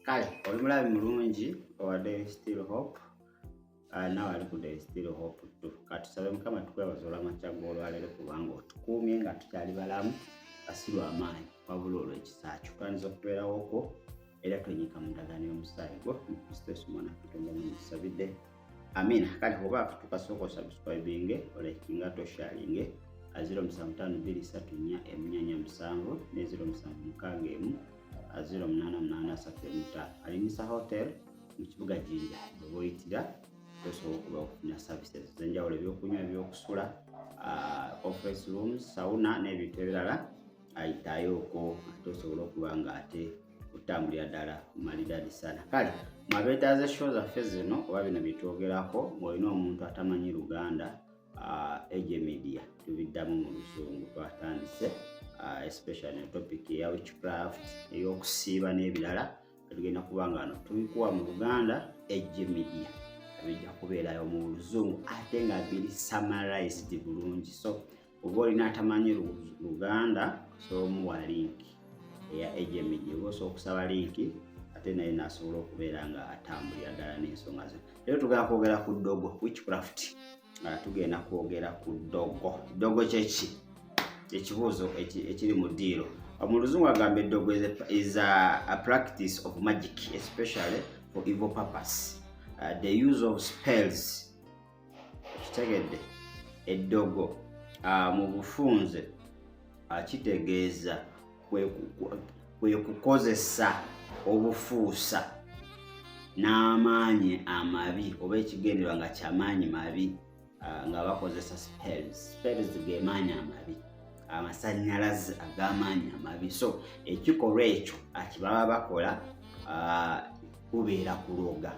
kale oli mulabi mulungi owa daily still hope ah, nawe ali ku daily still hope tu katusabe mukama tukwebaza olwamakya gwolwaleero kubanga otukuumye nga tukyali balamu asiru amaanyi wabula olwekisa kyukanyiza okubeerawoko era twenyika mu ndagaano y'omusaayi gwo mu kristo yesu mwana katonda muyisabidde Amina. Kale oba tukasooka osubscribinge olekinga tosharinge aziro musanvu tano bbiri satu nnya emunyanya musanvu ne ziro musanvu mukaaga emu aziro munaana munaana asatu emu ttaano alimisa hotel mu kibuga Jinja oba oyitira osobola okuba okufuna services ez'enjawulo ebyokunywa ebyokusula ah, conference rooms sauna n'ebintu ebirala ayitayo okwo ate osobola okuba nga ate okutambulira ddala malidaadi sana kale mwabeetaaza show zaffe zino oba bino byetwogerako ngaolina omuntu atamanyi luganda uh, ege media tubiddamu mu luzungu twatandise uh, especially ne topic eya witchcraft eyokusiiba n'ebirala tugenda kuba nga no tubikuwa mu luganda ege media bijja kubeerayo mu luzungu ate nga biri summarized bulungi so oba olina atamanyi luganda osobola omuwa linki eya agmg oba osobola okusaba linki ate naye nasobola okubeera nga atambulira ddala n'ensonga ze leero tugenda kwogera ku ddogo witchcraft nga tugenda kwogera ku ddogo ddogo kyeki ekibuuzo ekiri mu diiro mu luzungu agamba eddogo is a practice of magic especially for evil purpose uh, the use of spells kitegedde eddogo ah, mu bufunze akitegeeza ah, kwe kukozesa obufuusa n'amaanyi amabi oba ekigenderwa nga kyamaanyi mabi ah, nga bakozesa spells spells gemaanyi amabi amasanyalaze ag'amaanyi amabi so ekikolwa ekyo akibaba bakola kubeera kuloga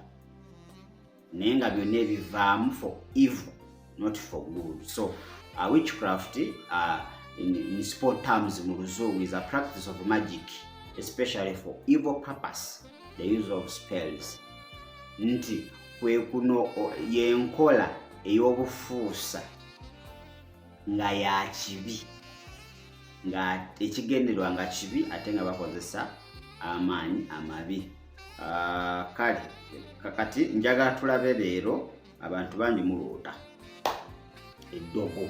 naye nga byonna ebivaamu for evil not for good so uh, witchcraft uh, in, in sport terms mu luzungu is a practice of magic especially for evil purpose the use of spells nti kwekuno yenkola ey'obufuusa nga ya kibi nga ekigenderwa nga kibi ate nga bakozesa amaanyi amabi Ah, kale kakati njagala tulabe leero abantu bangi muloota eddogo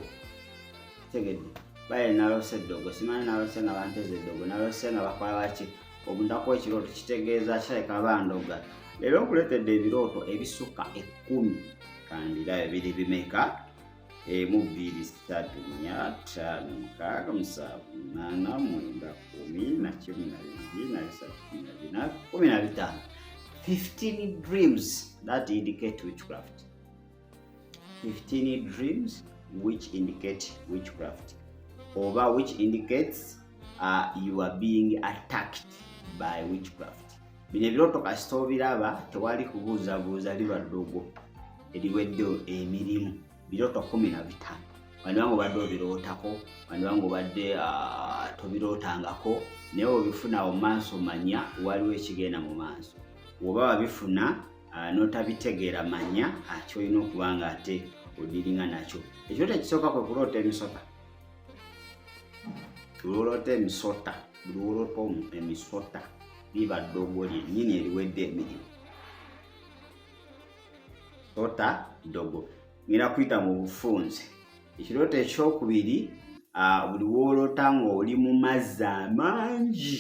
tegedde baye nalose eddogo simanyi nalose nga banteza eddogo nalose nga bakola baki obunaku ekirooto kitegeeza kirabika bandoga leero nkuleetedde ebirooto ebisukka ekkumi kandirayo biri bimeka emu bbiri ssatu nnya ttaano mukaaga musanvu munaana mwenda kumi na kimu na bibiri na bisatu kumi na bina kumi na bitaano 15 dreams that indicate witchcraft 15 dreams which indicate witchcraft oba which indicates uh, you are being attacked by witchcraft bino ebirooto kasita obiraba tewali kubuuzabuuza liba ddogo eriwedde emirimu birooto kumi na bitaano wandiba nga obadde obirootako wandiba nga obadde ah, tobirootangako naye obifuna mu maaso manya waliwo ekigenda mu maaso woba wabifuna ah, n'otabitegeera manya ah, kyolina okuba nga ate odiringa nakyo ekirooto ekisooka kwe kuloota emisota olwoloota emisota buli woloota emisota liba ddogo lyennyini eriwedde emirimu sota ddogo ngera kuyita mu bufunze ekirooto ekyokubiri buli woolota ng'oli mu mazzi amangi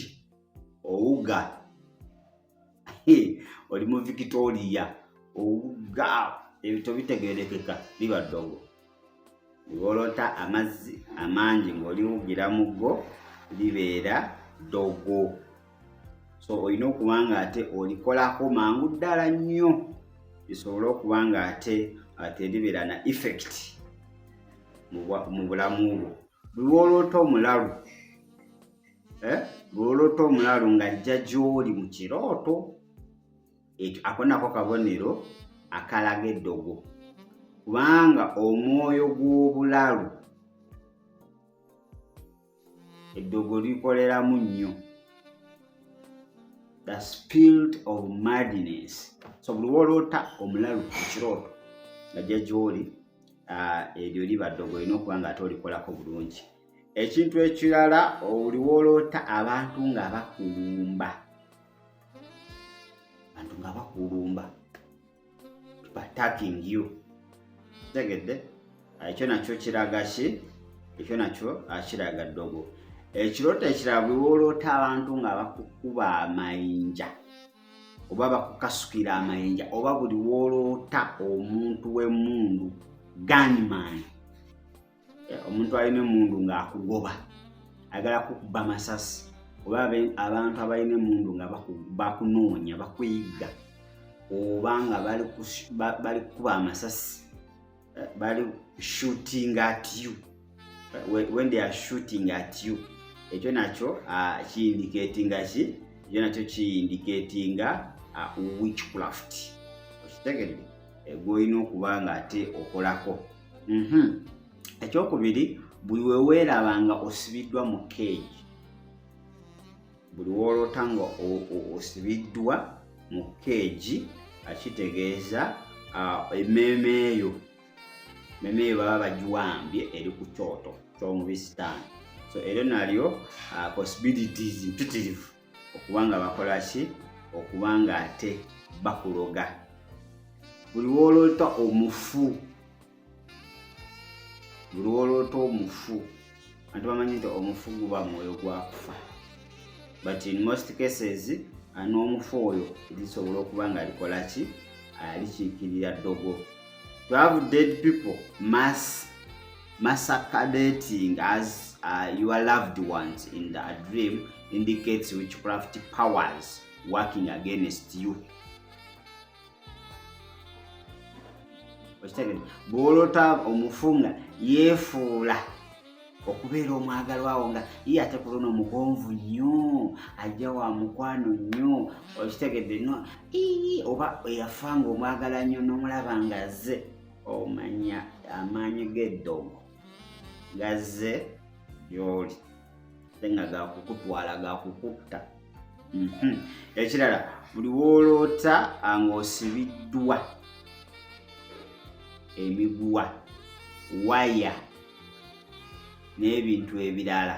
owuga oli mu victoria owuga ebito bitegerekeka liba ddogo ng'olota amazzi amangi ng'oliwugira mu go libeera ddogo so olina okuba nga ate olikolako mangu ddala nnyo lisobole okuba nga ate ate libeera na effect mu bulamu bwo lwolota omulalu eh? lwolota omulalu ng'ajja gy'oli mu kirooto ekyo ako nako kabonero akalaga eddogo kubanga omwoyo gw'obulalu eddogo likoleramu nnyo the spirit of madness so buli woloota omulalu ekirooto najja gyoli ah, eryo liba ddogo olina okuba nga ate olikolako bulungi ekintu ekirala oliwoloota abantu nga bakulumba bantu nga bakulumba attacking you tegedde ekyo nakyo kiraga ki ekyo nakyo akiraga ddogo ekirooto ekirala bwe wooloota abantu nga bakukuba amayinja oba bakukasukira amayinja oba buli wooloota omuntu w'emmundu gunman eh, omuntu alina emundu ng'akugoba ayagala kukuba masasi oba abantu abalina emundu nga bakunoonya bakuyigga oba nga bali kukuba amasasi eh, bali shooting at you eh, when they are shooting at you ekyo nakyo ah, kiyindiketinga ki ekyo nakyo kiyindiketinga ah, witchcraft okitegedde gwolina okuba nga ate okolako mhm. ekyokubiri buli weweeraba nga osibiddwa mu keegi buli woolota nga osibiddwa mu keegi akitegeeza emmeeme eyo emmeeme eyo baba bagiwambye eri ku kyoto ky'omubisitaani so eryo nalyo possibilities mpitirivu okuba nga bakola ki okuba nga ate bakuloga buli woloota omufu buli woloota omufu anti bamanyi nti omufu guba mwoyo gwakufa but in most cases n'omufu oyo lisobola okuba nga likola ki alikiikirira ddogo to have dead people mass Masaka dating as uh, your loved ones in the dream indicates witchcraft powers working against you. bwolota omufu nga yeefuula okubeera omwagalwa wo nga ye ate ku luno omugonvu nnyo ajja wa mukwano nnyo okitegedde no oba eyafa nga omwagala nnyo n'omulaba nga azze omanya amaanyi g'eddogo gazze gy'oli ate nga gakukutwala gakukutta mhm. ekirala buli wooloota ng'osibiddwa emiguwa waya n'ebintu ebirala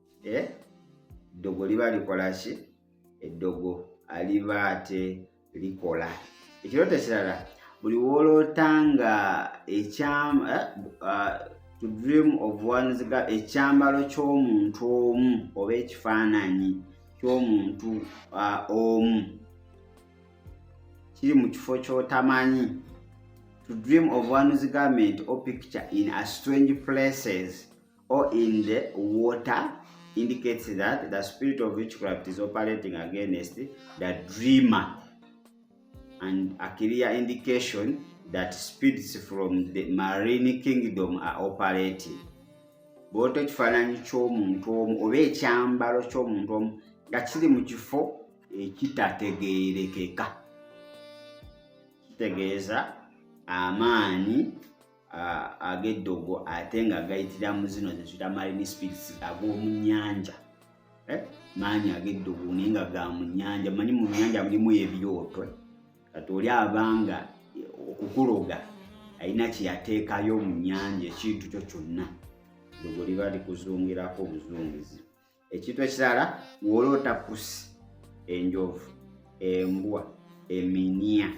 eh? eddogo liba likola ki eddogo aliba ate likola ekirooto ekirala buli wooloota nga ekyama eh, uh, to dream of ones ekyambalo ky'omuntu omu oba ekifaananyi ky'omuntu uh, omu kiri mu kifo ky'otamanyi to dream of one's garment or picture in a strange places or in the water indicates that the spirit of witchcraft is operating against the dreamer and a clear indication that spirits from the marine kingdom are operating bwota ekifaananyi ky'omuntu omu oba ekyambalo ky'omuntu omu nga kiri mu kifo ekitategeerekeka kitegeeza amaanyi ag'eddogo ate nga gayitira mu zino zezita marine spirits ag'omu nnyanja eh? maanyi ag'eddogo naye nga ga mu nnyanja manyi mu nnyanja mulimu ebyotwe kati oli abanga okukuloga alina kyeyateekayo mu nnyanja ekintu kyo kyonna ddogo liba likuzungirako obuzungizi ekintu ekirala ng'oloota pusi enjovu embwa eminia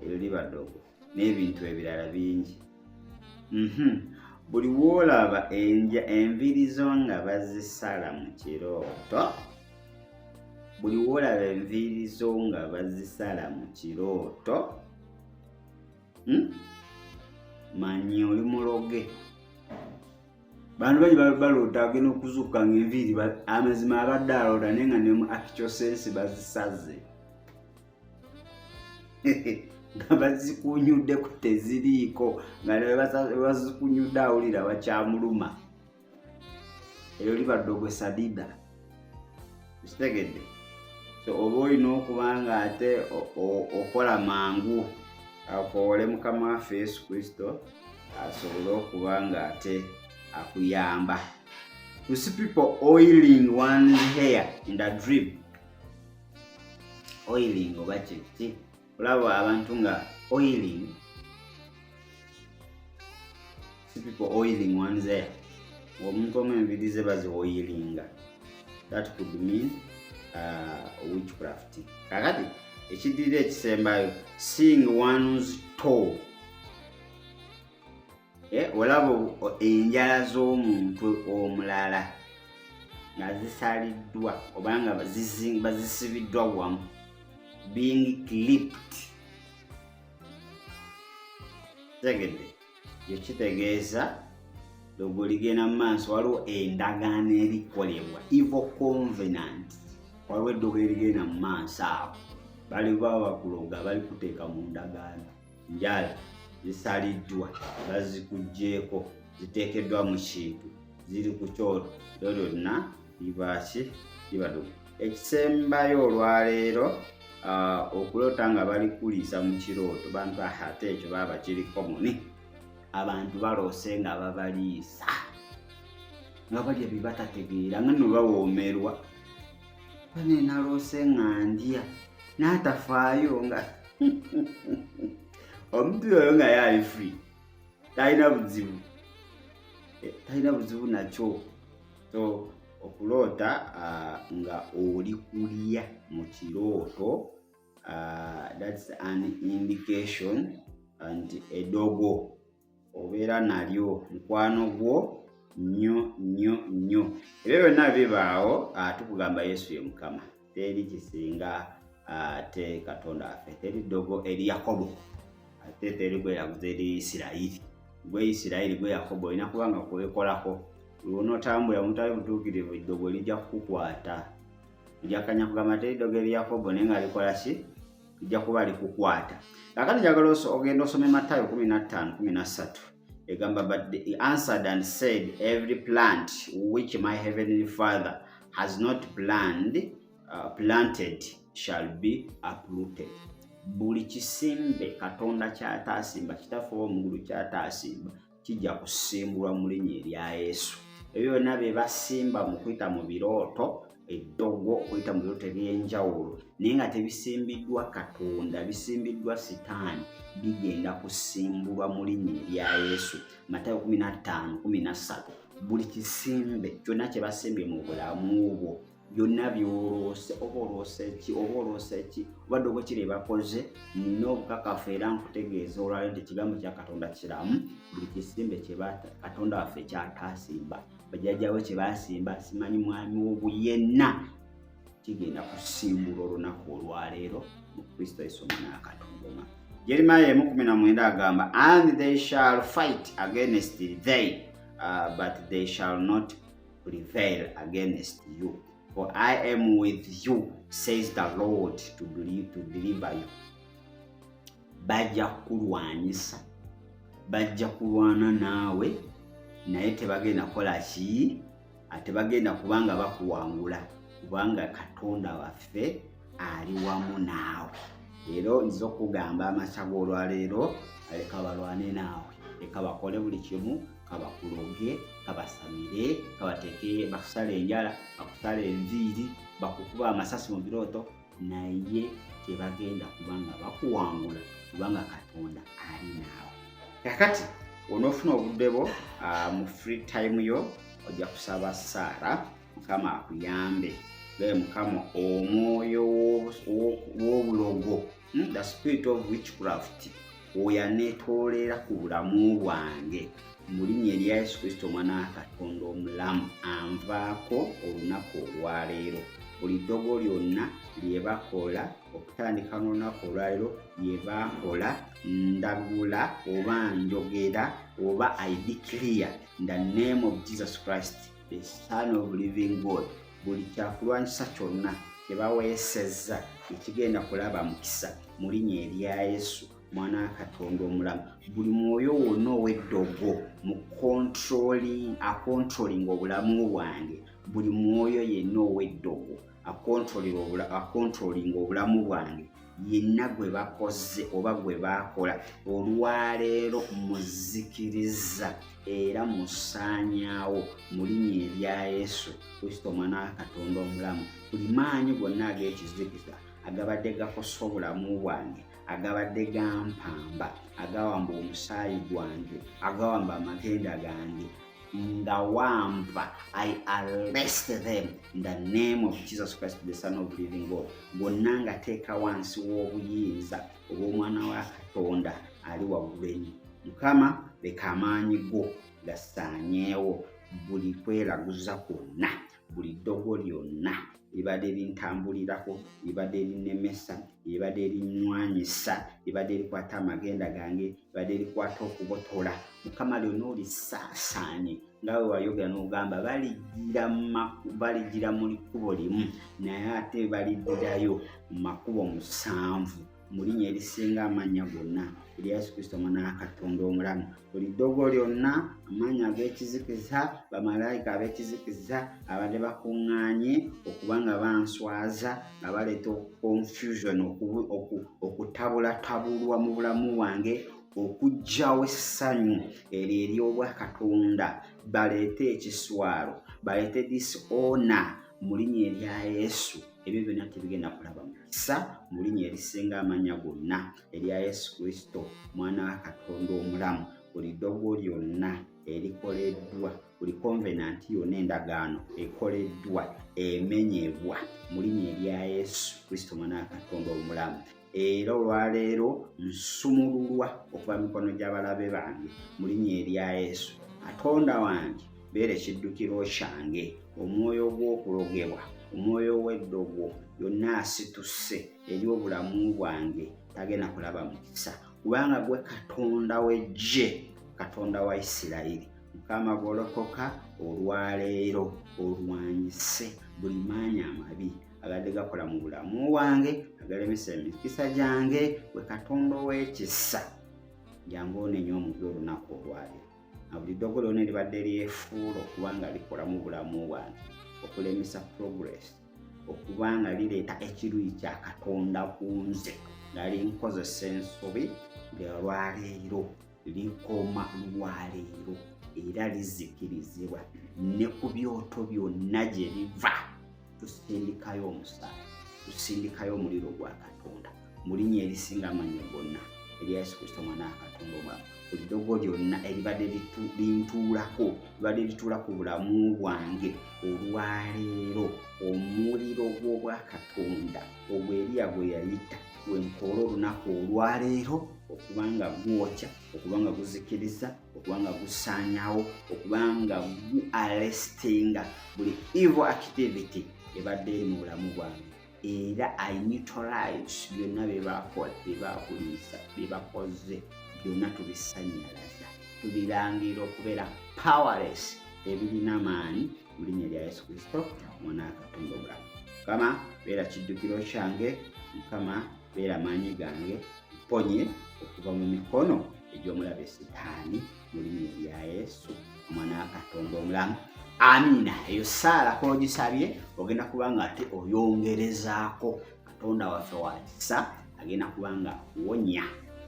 eryo liba ddogo n'ebintu ebirala bingi mhm. buli woolaba enja enviiri zo nga bazisala mu kirooto buli woolaba enviiri zo nga bazisala mu kirooto hmm? manyi oli muloge bantu bangi balota agenda okuzuuka nga enviiri amazima abadde alota naye nga nemu akicosensi bazisaze nga bazikunyuddeko teziriiko nga nebazikunyudde awulira bakyamuluma eyo libadde ogwe sadida kitegedde so oba olina okuba nga ate okola mangu akoole mukama waffe yesu kristo asobole okuba nga ate akuyamba you see people oiling one hair in the drip oiling oba kyekiti olaba abantu nga oiling si people oiling ones there omuntu omu enviri ze bazioyilinga that could mean uh, witchcraft kakati ekidirira ekisembayo seeing one's toe Eh, olaba enjala z'omuntu omulala nga zisaliddwa oba nga bazisibiddwa wamu being clipped tegedde ekyo kitegeeza logo ligenda mu maaso waliwo endagaano erikolebwa evo convenant waliwo eddogo erigenda mu maaso awo bali baba bakuloga bali kuteeka mu ndagaano njala zisaliddwa bazikugyeko ziteekeddwa mu kintu ziri ku kyoto lyo lyonna libaaki libaduka ekisembayo olwaleero ah, okuloota nga balikuliisa mu kirooto bantu ahate ekyo baba kiri komuni abantu baloose nga babaliisa nga balya bibatategeera nga nobawoomerwa bane naloose nga ndya n'atafaayo nga omuntu yoyo nga yaali free talina buzibu eh, talina buzibu nakyo so okuloota ah, nga oli kulya mu kirooto ah, thats an indication and edogo obeera nalyo mukwano gwo nnyo nnyo nnyo ebyo byonna bibaawo ah, tukugamba yesu ye mukama teri kisinga ah, te katonda affe teri ddogo eri yakobo ate teri gweraguza eri isirayiri gwe isirayiri gwe yakobo olina kuba nga kwekolako lwonotambula omutali butuukirivu ddogo lijja kukukwata njakanya kugamba teri ddogo eri yakobo naye nga likola ki ijja kuba likukwata kakati njagala ogenda osome matayo 1513 egamba but he answered and said every plant which my heavenly father has not planned, uh, planted shall be uprooted buli kisimbe katonda kyataasimba kitaffe ow'omugulu kyataasimba kijja kusimbulwa mu linnya erya Yesu. Ebyo byonna bye basimba mu kuyita mu birooto eddogo okuyita mu birooto eby'enjawulo naye nga tebisimbiddwa Katonda, bisimbiddwa Sitaani, bigenda kusimbulwa mu linnya erya Yesu. Matayo kumi na ttaano kumi na ssatu buli kisimbe kyonna kye basimbye mu bulamu bwo byonna byolwose oba olwose ki oba olwose ki obadde oba kiri bakoze nina obukakafu era nkutegeeza olwali nti ekigambo kya katonda kiramu buli kisimbe katonda waffe kyatasimba bajajjawe kyebasimba simanyi mwami wobu yenna kigenda kusimbula olunaku olwaleero mu kristo yesu omwana wa katonda oma jeremiya emu kumi na mwenda agamba and they shall fight against they uh, but they shall not prevail against you for I am with you says the Lord to believe, to deliver you bajja kukulwanyisa bajja kulwana naawe naye tebagenda kukola ki ate bagenda kubanga bakuwangula kubanga katonda waffe ali wamu naawe leero nziza okugamba amakya g'olwaleero aleka balwane naawe leka bakole buli kimu kabakuloge kabasamire kabateke bakusala enjala bakusala enviiri bakukuba amasasi mu birooto naye tebagenda kubanga bakuwangula kubanga katonda ali naawe kakati onoofuna obudde bwo ah, mu free time yo ojja kusaba saara mukama akuyambe gaye mukama omwoyo w'obulogo Hmm, the spirit of witchcraft oyo anetoolera ku bulamu bwange mu linnya erya yesu kristo omwana wa katonda omulamu anvaako olunaku olwaleero buli ddogo lyonna lyebakola okutandika n'olunaku olwaleero lyebakola ndagula oba njogera oba idiclear the name of jesus christ the son of living god buli kyakulwanyisa kyonna kyebaweesezza ekigenda kulaba mukisa mu linya erya yesu mwana wa katonda omulamu buli mwoyo wonna ow'eddogo mu akontrolinga obulamu bwange buli mwoyo yenna ow'eddogo akontrolinga obulamu bwange yenna gwe bakoze oba gwe baakola olwaleero muzikiriza era musaanyaawo mu linnya erya yesu kristo omwana wa katonda omulamu buli maanyi gonna ag'ekizikiza agabadde gakosa obulamu bwange agabadde gampamba agawamba omusaayi gwange agawamba amagenda gange ngawampa i arrest them in the name of jesus christ the son of living god gonna ngateeka wansi w'obuyinza obw'omwana wa katonda ali waggulu enyo mukama leka amaanyi go gasaanyeewo buli kweraguza kwonna buli ddogo lyonna ebibadde bintambulirako ebibadde binemesa ebibadde binywanyisa ebibadde bikwata amagenda gange ebibadde bikwata okubotola mukama lyona olisaasaanye nga we wayogera n'ogamba baligira mu kkubo limu naye ate balidirayo mu makubo musanvu mu linnya erisinga amannya gonna eri yesu kristo omwana wa katonda omulamu buli ddogo lyonna amaanyi ag'ekizikiza bamalayika ab'ekizikiza abadde bakuŋŋaanye okuba nga banswaza nga baleeta confusion okutabulatabulwa mu bulamu bwange okugyawo essanyu eryo ery'obwakatonda baleete ekiswalo baleete disona mu linnya erya Yesu ebyo byonna tebigenda kulaba mukisa mu linnya erisinga amanya gonna erya Yesu Kristo mwana wa Katonda omulamu buli ddogo lyonna erikoleddwa buli konvenanti yonna endagaano ekoleddwa emenyebwa mu linnya erya Yesu Kristo mwana wa Katonda omulamu era olwaleero nsumululwa okuva mikono gy'abalabe bange mu linnya erya yesu katonda wange beera ekiddukiro kyange omwoyo ogw'okulogebwa omwoyo ow'eddogo yonna asituse eri obulamu bwange tagenda kulaba mukisa kubanga gwe katonda w'eggye katonda wa isirayiri mukama golokoka olwaleero olwanyise buli maanyi amabi agadde gakola mu bulamu wange agalemesa emikisa gyange we katonda ow'ekisa jangu onenya omuntu olunaku olwali na buli ddogo lyona eribadde lyefuula okuba nga likola mu bulamu bwange okulemesa progress okuba nga lireeta ekiruyi kya katonda ku nze nali nkozesa ensobi lwaleero likoma lwaleero era lizikirizibwa ne ku byoto byonna gye biva tusindikayo omusaayi tusindikayo omuliro gwa katonda mu linnya erisinga amanyi gonna erya yesu kristo omwana wa katonda omwama buli dogo lyonna eribadde lintuulako libadde lituula ku bulamu bwange olwaleero omuliro gw'obwakatonda ogwo eriya gwe yayita wenkoola olunaku olwaleero okuba nga gwokya okuba nga guzikiriza okuba nga gusaanyawo okuba nga gu arestinga buli evil activity ebadde eri mu bulamu bwange era i neutralize byonna byebakola byebakuliisa byebakoze byonna tubisanyalaza tubirangira okubeera powerless ebirina maanyi mu linnya lya yesu kristo omwana wa katonda omulamu mukama beera kiddukiro kyange mukama beera maanyi gange mponye okuva mu mikono egy'omulabe sitaani mu linnya lya yesu omwana wa katonda omulamu amiina eyo saala kogisabye ogenda kuba nga ate oyongerezaako katonda waffe wakisa agenda kuba nga akuwonya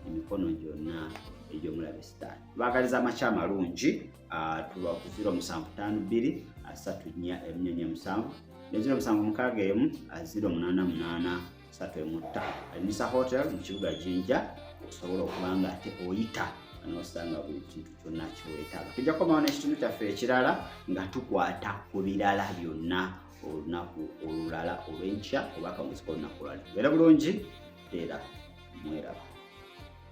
emikono gyonna egy'omulabe sitaani baagaliza amakya amalungi ah, tuba ku ziro musanvu ttaano bbiri asatu nnya emu nnya nnya musanvu ne ziro musanvu mukaaga emu ah, ziro munaana munaana asatu emu ttaano alinisa hotel mu kibuga jinja osobola okuba nga ate oyita nosanga buli kintu kyonna kyewetaaga tujja kukomawo n'ekitundu kyaffe ekirala nga tukwata ku birala byonna olunaku olulala olwenkya oba akamuzika olunaku olwali era bulungi era mweraba